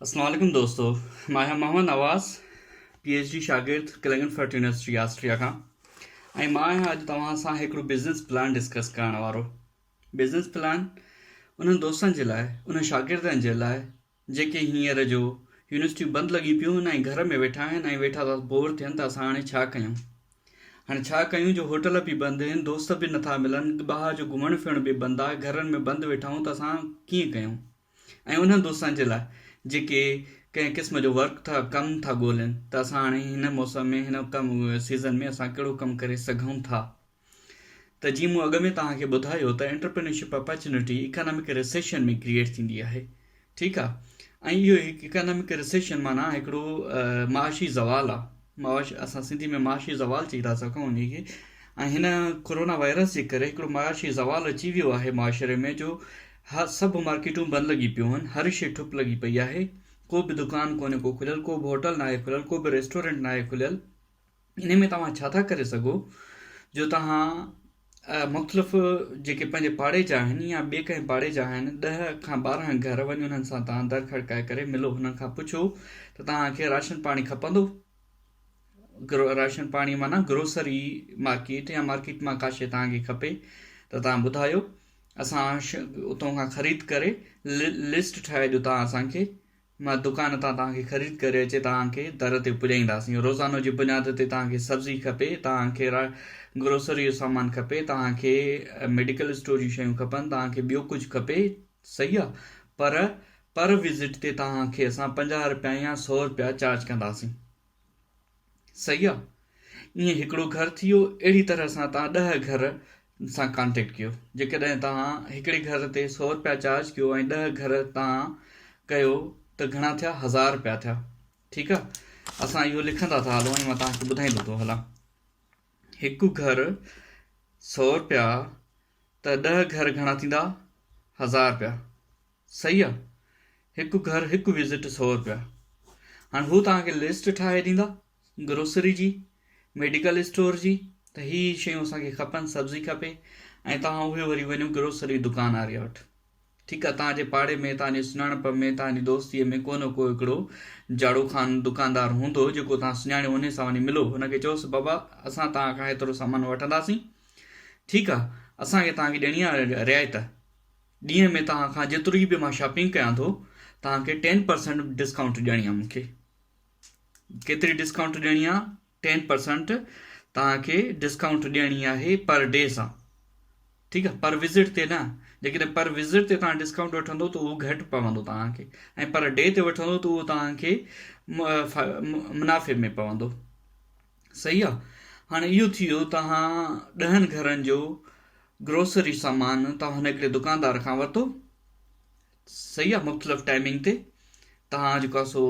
السلام عليڪم دوستو مان آهيان Muhammad Nawaz P H D شاگرد ڪلنگن فرٽ يونيورسٽي آسٽريا کان ۽ مان آهيان اڄ توهان سان هڪڙو بزنس پلان ڊسڪس ڪرڻ وارو بزنس پلان انهن دوستن جي لاء انهن شاگردن جي لاء جيڪي هينئر جو يونيورسٽيون بند لڳي پيون آهن ۽ گهر ۾ ويٺا آهن ۽ ويٺا ٿا بور ٿين ته اسان هاڻي ڇا ڪيون هاڻي ڇا ڪيون جو هوٽل به بند هن دوست به نٿا ملن ٻاهر جو گهمڻ ڦرڻ به بند آهي گهرن ۾ بند ويٺا آهيون ته اسان ڪيئن ڪيون ۽ انهن دوستن جي لاء جيڪي ڪنهن قسم جو ورڪ ٿا ڪم ٿا ڳولين ته اسان هاڻي هن موسم ۾ هن ڪم سيزن ۾ اسان ڪهڙو ڪم ڪري سگهون ٿا ته جيئن مون اڳ ۾ توهان کي ٻڌايو ته entrepreneurship opportunity economic recession ۾ create ٿيندي آهي ٺيڪ آ ۽ اهو هڪ اڪانامڪ رسيشن معنيٰ هڪڙو معاشي زوال آ معاش اسان سنڌي ۾ معاشي زوال چئي ٿا سگهون انهي کي ۽ هن ڪورونا وائرس جي ڪري هڪڙو معاشي زوال اچي ويو آهي معاشري ۾ جو هر سڀ مارڪيٽون بند لڳي پيون هن هر شي ٺپ لڳي پئي آهي ڪو به دڪان ڪونهي ڪو کليل ڪو به هوٽل ناهي کليل ڪو به ريسٽورينٽ ناهي کليل انهي ۾ توهان ڇا ٿا ڪري سگهو جو توهان مختلف جيڪي پنهنجي پاڙي جا آهن يا ٻي ڪنهن پاڙي جا آهن ڏهه کان ٻارهن گهر وڃي انهن سان توهان در کڙڪائي ڪري ملو انهن کان پڇو ته توهان کي راشن پاڻي کپندو راشن پاڻي معنيٰ گروسري مارڪيٽ يا مارڪيٽ مان ڪاشي توهان کي کپي ته توهان ٻڌايو اسان اتون کان خريد ڪري لسٽ ٺاهي جو توهان اسان کي مان دڪان تان توهان کي خريد ڪري اچي توهان کي در تي پڄائينداسين روزانو جي بنياد تي توهان کي سبزي کپي توهان کي گروسري جو سامان کپي توهان کي ميڊيڪل اسٽور جون شيون کپن توهان کي ٻيو ڪجهه کپي صحيح آ پر پر وزٽ تي توهان کي اسان پنجاهه رپيا يا سؤ رپيا چارج ڪنداسين صحيح آ ائين هڪڙو گهر ٿي ويو اهڙي طرح سان توهان ڏهه گهر سان ڪانٽيڪٽ ڪيو جيڪڏهن توهان هڪڙي گهر تي سو رپيا چارج ڪيو ۽ ڏهه گهر توهان ڪيو ته گهڻا ٿيا هزار رپيا ٿيا ٺيڪ آ اسان اهو لکندا ٿا هلون ۽ مان توهان کي ٻڌائيندو ٿو هلان هڪ گهر سو رپيا ته ڏهه گهر گهڻا ٿيندا هزار رپيا صحيح آ هڪ گهر هڪ وزٽ سؤ رپيا هاڻي هو توهان کي لسٽ ٺاهي ڏيندا گروسري جي ميڊيڪل اسٽور جي ته هي هي شيون اسان کي کپن سبزي کپي ۽ توهان اهي وري وڃو گروسري دڪان آريا وٽ ٺيڪ آ توهان جي پاڙي ۾ توهان جي سڃاڻپ ۾ توهان جي دوستي ۾ ڪو نه ڪو هڪڙو جاڙو خان دڪاندار هوندو جيڪو توهان سڃاڻيو ان سان وڃي ملو هن کي چئوس بابا اسان توهان کان هيترو سامان وٺنداسين ٺيڪ آ اسان کي توهان کي ڏيڻي آ رعايت ڏينهن ۾ توهان کان جيتري به مان شاپنگ ڪيان ٿو توهان کي ٽين پرسنٽ ڊسڪائونٽ ڏيڻي آ مونکي ڪيتري ڊسڪائونٽ ڏيڻي آ ٽين پرسنٽ توهان کي ڊسڪائونٽ ڏيڻي آهي پر ڊي سان ٺيڪ آ پر وزٽ تي نه جيڪڏهن پر وزٽ تي توهان ڊسڪائونٽ وٺندو ته اهو گهٽ پوندو توهان کي ۽ پر ڊي تي وٺندو ته اهو توهان کي منافعي ۾ پوندو صحيح آ هاڻي اهو ٿي ويو توهان ڏهن گهرن جو گروسري سامان توهان هڪڙي دڪاندار کان ورتو صحيح آ مختلف ٽائمنگ تي توهان جيڪو آ سو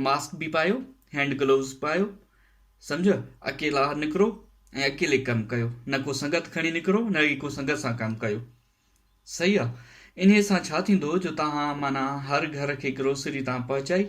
ماسڪ به پايو هينڊ گلوز پايو سمجهيو اڪيلا نڪرو ۽ اڪيلي ڪم ڪيو نه ڪو سنگت کڻي نڪرو نه ئي ڪو سنگت سان ڪم ڪيو صحيح آ انهي سان ڇا ٿيندو جو توهان معنيٰ هر گهر کي گروسري توهان پهچائي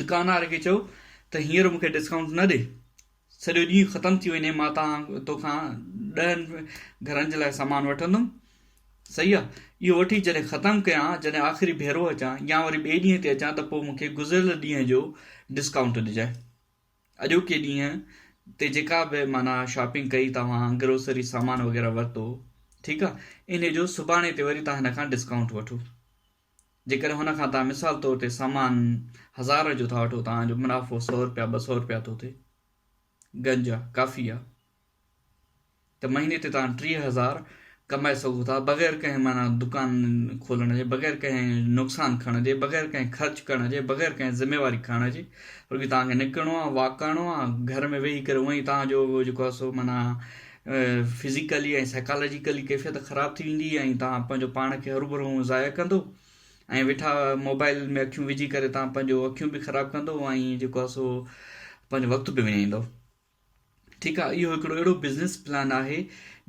دڪاندار کي چيو ته هينئر مون کي ڊسڪائونٽ نه ڏي، سڄو ڏينهن ختم ٿي وڃي مان توکان ڏهن گهرن جي لاء سامان وٺندم، صحيح آ، اهو وٺي جڏهن ختم ڪيان، جڏهن آخري ڀيرو اچان يا وري ٻئي ڏينهن تي اچان ته پوء مون کي گذريل ڏينهن جو ڊسڪائونٽ ڏجانء. اڄوڪي ڏينهن تي جيڪا به معنيٰ شاپنگ ڪئي توهان گروسري سامان وغيره ورتو ٺيڪ آ، انهي جو سڀاڻي تي وري توهان هن کان ڊسڪائونٽ وٺو. جيڪڏهن هن کان توهان مثال طور تي سامان هزار جو ٿا وٺو توهان جو منافعو سؤ رپيا ٻه سؤ رپيا ٿو ٿئي گنج آ ڪافي آ ته مهيني تي توهان ٽيهه هزار ڪمائي سگهو ٿا بغير ڪنهن معنيٰ دڪان کولڻ جي بغير ڪنهن نقصان کڻڻ جي بغير ڪنهن خرچ ڪرڻ جي بغير ڪنهن ذميواري کڻڻ جي بلڪه توهان کي نڪرڻو آ واڪ ڪرڻو آ گهر ۾ ويهي ڪري اوهين توهان جو جيڪو آ سو معنيٰ فزيڪلي ۽ سائيڪالاجيڪلي ڪيفيت خراب ٿي ويندي ۽ تهان پنهنجو پاڻ کي هروڀرو هون ضايع ڪندو ۽ ويٺا موبائل ۾ اکيون وجهي ڪري تهان پنهنجو اکيون به خراب ڪندو ۽ جيڪو آ سو پنهنجو وقت به وڃائيندو ٺيڪ آ اهو هڪڙو اهڙو بزنس پلان آهي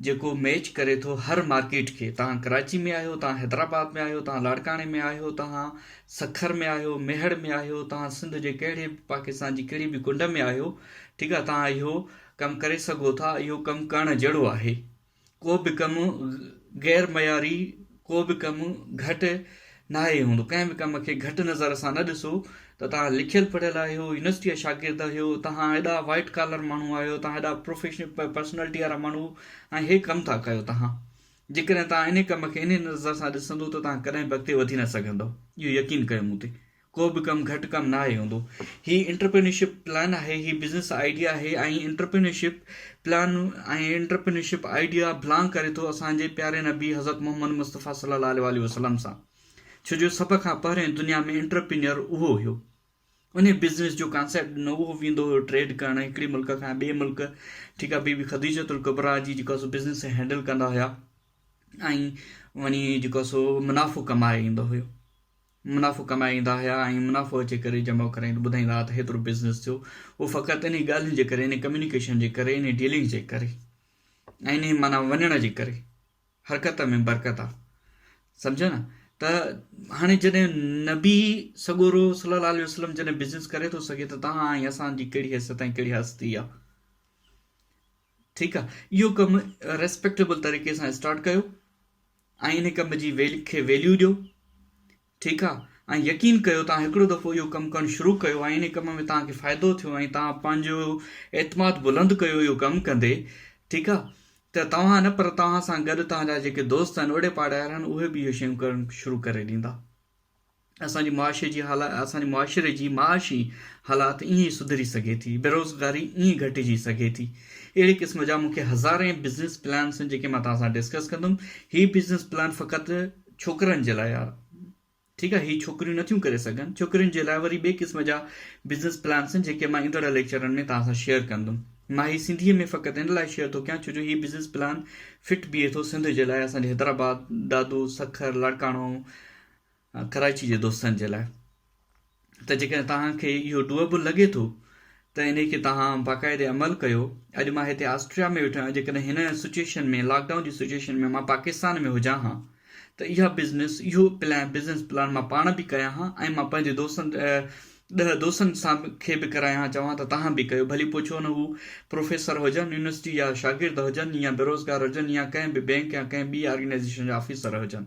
جيڪو ميچ ڪري ٿو هر مارڪيٽ کي تهان ڪراچي ۾ آهيو تهان حيدرآباد ۾ آهيو تهان لاڙڪاڻي ۾ آهيو تهان سکر ۾ آهيو ميهڙ ۾ آهيو تهان سنڌ جي ڪهڙي پاڪستان جي ڪهڙي به ڪنڊ ۾ آهيو ٺيڪ آ تهان اهو ڪم ڪري سگهو ٿا اهو ڪم ڪرڻ جهڙو آهي ڪو به ڪم غير معياري ڪو به ڪم گهٽ ناهي هوندو ڪنهن به ڪم کي گهٽ نظر سان نه ڏسو ته تان لکيل پڙهيل آهيو يونيورسٽي جا شاگرد آهيو تان ايڏا وائٽ ڪالر ماڻهو آهيو تان ايڏا پروفيشنل پرسنالٽي وارا ماڻهو ۽ هي ڪم ٿا ڪيو تان جيڪڏهن تان ان ڪم کي ان نظر سان ڏسندو ته تان ڪڏهن به اڳتي وڌي نه سگهندو اهو يقين ڪيو مون تي ڪو به ڪم گهٽ ڪم ناهي هوندو هي انٽرپرينيورشپ پلان آهي هي بزنس آئيڊيا آهي ۽ entrepreneurship plan ۽ entrepreneurship idea building ڪري ٿو اسان جي پياري نبي حضرت محمد مصطفي صلي الله عليه وآله وسلم سان ڇو جو سڀ کان پهرين دنيا ۾ انٽرپرينيور اهو هيو ان بزنس جو ڪانسيپٽ ڏنو اهو ويندو هيو ٽريڊ ڪرڻ هڪڙي ملڪ کان ٻئي ملڪ ٺيڪ آهي بي بي خديجه القبرا جي جيڪو سو بزنس هينڊل ڪندا هيا ۽ وڃي جيڪو سو منافع ڪمائي ايندو هيو منافعو ڪمائيندا هيا ۽ منافعو جي ڪري جمع ڪرائين ته ٻڌائيندا ها ته هيترو بزنس ٿيو اهو فقط انهي ڳالهين جي ڪري انهي ڪميونيڪيشن جي ڪري انهي ڊيلنگس جي ڪري ۽ انهي معنيٰ وڃڻ جي ڪري حرڪت ۾ برڪت آ سمجهيو نه ته هاڻي جڏهن نبي سڳورو صلي الله عليه وسلم جڏهن بزنس ڪري ٿو سگهي ته تان ۽ اسان جي ڪهڙي حيثيت ۽ ڪهڙي هستي آ ٺيڪ آ اهو ڪم ريسپيڪٽيبل طريقي سان اسٽارٽ ڪيو ۽ ان ڪم جي ويل کي ويليو ڏيو ٺيڪ آ ۽ يقين ڪيو توهان هڪڙو دفعو اهو ڪم ڪرڻ شروع ڪيو ۽ ان ڪم ۾ توهان کي فائدو ٿيو ۽ توهان پنهنجو اعتماد بلند ڪيو اهو ڪم ڪندي ٺيڪ آ ته توهان نه پر توهان سان گڏ توهان جا جيڪي دوست آهن اوڙي پاڙي وارا آهن اهي به اهي شيون ڪرڻ شروع ڪري ڏيندا. اسان جي معاشي جي حالات اسان جي معاشري جي معاشي حالات ائين ئي سڌري سگهي ٿي بيروزگاري ائين ئي گهٽجي سگهي ٿي اهڙي قسم جا مون کي هزارين بزنس پلانس آهن جيڪي مان توهان سان ڊسڪس ڪندم هي بزنس پلان فقط ڇوڪرن جي لاء ٺيڪ آهي هي ڇوڪريون نٿيون ڪري سگهن ڇوڪرين جي لاء وري ٻئي قسم جا بزنس پلانس آهن جيڪي مان ايندڙ ليڪچرن ۾ توهان سان شيئر ڪندم مان هي سنڌي ۾ فقط ان لاء شيئر ٿو ڪيان ڇو جو هي بزنس پلان فٽ بيهي ٿو سنڌ جي لاء اسان جي حيدرآباد دادو سکر لاڙڪاڻو ڪراچي جي دوستن جي لاء ته جيڪڏهن توهان کي اهو ڊوئبل لڳي ٿو ته انهي کي توهان باقاعدي عمل ڪيو اڄ مان هتي آسٽريا ۾ ويٺو آهيان جيڪڏهن هن سچويشن ۾ لاڪ ڊائون جي سچويشن ۾ مان پاڪستان ۾ هجان ها ته اها بزنس اهو پلان بزنس پلان مان پاڻ به ڪريان ها ۽ مان پنهنجي دوستن ڏهه دوستن سان کي به ڪرايان ها چوان ته توهان به ڪيو ڀلي پوء ڇو نه هو پروفيسر هجن يونيورسٽي جا شاگرد هجن يا بيروزگار هجن يا ڪنهن به بئنڪ يا ڪنهن ٻي آرگنائيزيشن جا آفيسر هجن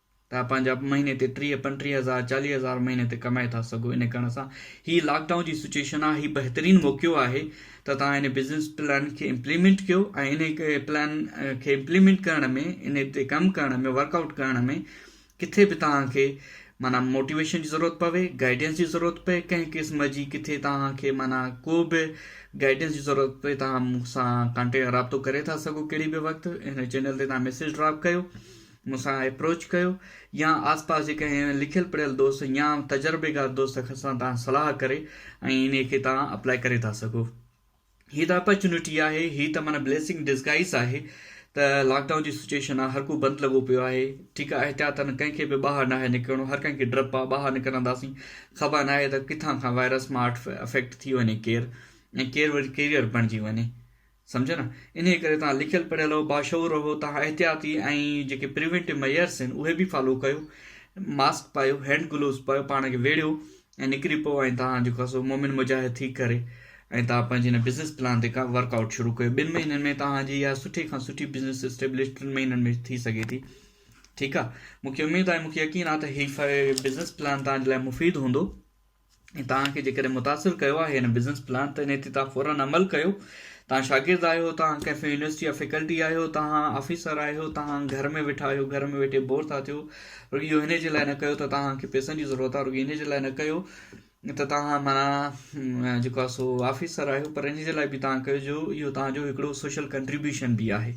ته پنهنجا مهيني تي ٽيهه پنٽيهه هزار چاليهه هزار مهيني تي ڪمائي ٿا سگهو ان ڪرڻ سان هي لاڪ ڊائون جي سچويشن آهي هي بهترين موقعو آهي ته تان ان بزنس پلان کي امپليمنٽ ڪيو ۽ ان پلان کي امپليمنٽ ڪرڻ ۾ ان تي ڪم ڪرڻ ۾ ورڪ آئوٽ ڪرڻ ۾ ڪٿي به تان کي مانا موٽيويشن جي ضرورت پوي گائيڊنس جي ضرورت پئي ڪنهن قسم جي ڪٿي تان کي مانا ڪو به گائيڊنس جي ضرورت پئي تان مون سان ڪانٽيڪٽ رابطو ڪري ٿا سگهو ڪهڙي به وقت هن چينل تي تان ميسيج ڊراپ ڪيو مون سان اپروچ ڪيو يا آس پاس جي ڪنهن لکيل پڙهيل دوست يا تجربيڪار دوست سان توهان صلاح ڪري ۽ انهي کي توهان اپلائي ڪري ٿا سگهو هي ته اپرچونٽي آهي هي ته معنيٰ بليسنگ ڊسگائيز آهي ته لاڪ ڊائون جي سچويشن آهي هر ڪو بند لڳو پيو آهي ٺيڪ آهي احتياطن ڪنهن کي به ٻاهر ناهي نڪرڻو هر ڪنهن کي ڊپ آهي ٻاهر نڪرنداسين خبر ناهي ته ڪٿان کان وائرس ماٺ افيڪٽ ٿي وڃي ڪير ۽ ڪير وري ڪيريئر بڻجي وڃي سمجهيو نه انهي ڪري توهان لکيل پڙهيل رهو باشعور رهو توهان احتياطي ۽ جيڪي پريونٽيو ميئرس آهن اهي به فالو ڪيو ماسڪ پايو هينڊ گلوز پايو پاڻ کي ويڙهيو ۽ نڪري پئو ۽ توهان جيڪو آهي سو مومن مجاهد ٿي ڪري ۽ توهان پنهنجي هن بزنس پلان تي ڪا ورڪ آئوٽ شروع ڪيو ٻن مهينن ۾ توهان جي اها سٺي کان سٺي بزنس اسٽيبلش ٽن مهينن ۾ ٿي سگهي ٿي ٺيڪ آهي مونکي اميد آهي مونکي يقين آهي ته هي بزنس پلان توهان جي لاء مفيد هوندو ۽ توهان کي جيڪڏهن متاثر ڪيو آهي هن بزنس پلان ته انهي تي توهان فورن عمل ڪيو توهان شاگرد آهيو توهان ڪنهن يونيورسٽي جا فيڪلٽي آهيو توهان آفيسر آهيو توهان گهر ۾ ويٺا آهيو گهر ۾ ويٺي بور ٿا ٿيو رڳي اهو انهي جي لاء نه ڪيو ته توهان کي پيسن جي ضرورت آهي رڳي انهي جي لاء نه ڪيو ته توهان مانا جيڪو آهي سو آفيسر آهيو پر انهي جي لاء به توهان ڪيو جو اهو توهان جو هڪڙو سوشل ڪنٽريبيوشن به آهي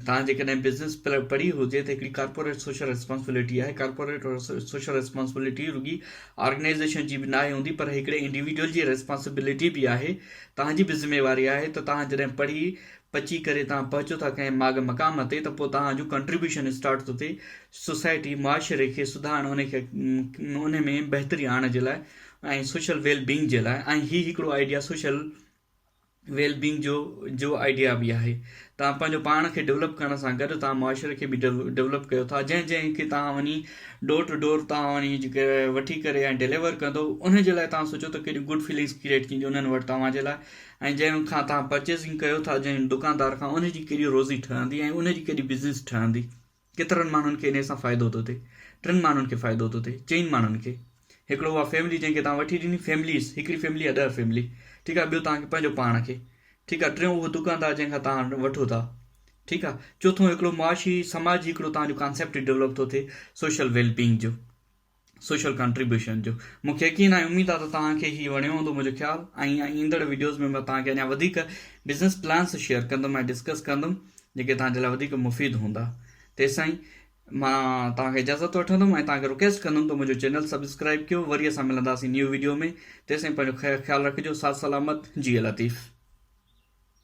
توهان جيڪڏهن بزنس پلان پڙهي هجي ته هڪڙي ڪارپوريٽ سوشل ريسپانسبلٽي آهي، ڪارپوريٽ سوشل ريسپانسبلٽي رڳي آرگنائيزيشن جي به ناهي هوندي پر هڪڙي انڊيوڊيول جي ريسپانسبلٽي به آهي، توهان جي به ذميواري آهي ته توهان جڏهن پڙهي پچي ڪري توهان پهچو ٿا ڪنهن ماڳ مقام تي ته پوء توهان جو ڪنٽريبيوشن اسٽارٽ ٿو ٿئي سوسائٽي معاشري کي سڌارڻ ان کي ان ۾ بهتري آڻڻ جي لاء ۽ سوشل ويل بينگ جي لاء ۽ هي هڪڙو آئيڊيا سوشل ويل بينگ جو جو آئيڊيا به آهي توهان پنهنجو پاڻ کي ڊيولپ ڪرڻ سان گڏ توهان معاشري کي به ڊيولپ ڪيو ٿا جنهن جنهن کي توهان وڃي ڊور ٽو ڊور توهان وڃي جيڪي وٺي ڪري ۽ ڊيليور ڪندو ان جي لاء توهان سوچو ته ڪهڙيون گڊ فيلنگس ڪريئيٽ ٿينديون انهن وٽ توهان جي لاء ۽ جنهن کان توهان پرچيزنگ ڪيو ٿا جنهن دڪاندار کان ان جي ڪهڙي روزي ٺهندي ۽ ان جي ڪهڙي بزنس ٺهندي ڪيترن ماڻهن کي انهيء سان فائدو ٿو ٿئي. ٽن ماڻهن کي فائدو ٿو ٿئي. چئن ماڻهن کي. هڪڙو اها فيملي جنهن کي توهان وٺي ڏني، فيمليز، هڪڙي فيملي يا ڏهه فيملي. ٺيڪ آهي. ٻيو توهان کي پنهنجو پاڻ کي. ٺيڪ آهي. ٽيون اهو دڪاندار جنهن کان توهان وٺو ٿا. ٺيڪ آهي. چوٿون هڪڙو معاشي، سماجي هڪڙو توهان جو ڪانسيپٽ ڊولپ ٿو ٿئي سوشل ويل بينگ جو. سوشل ڪنٽريبيوشن جو مون کي يقين آهي اميد آهي ته توهان کي هي وڻيو هوندو منهنجو خيال ۽ ايندڙ ويڊيوز ۾ مان توهان کي اڃا وڌيڪ بزنس پلانس شيئر ڪندم ۽ ڊسڪس ڪندم جيڪي توهان جي لاء وڌيڪ مفيد هوندا تيسين مان توهان کي اجازت وٺندم ۽ توهان کي رڪويسٽ ڪندم ته منهنجو چينل سبسڪرائب ڪيو وري اسان ملنداسين نيو ويڊيو ۾ تيسين پنهنجو خيال رکجو ساٿ سلامت جي لطيف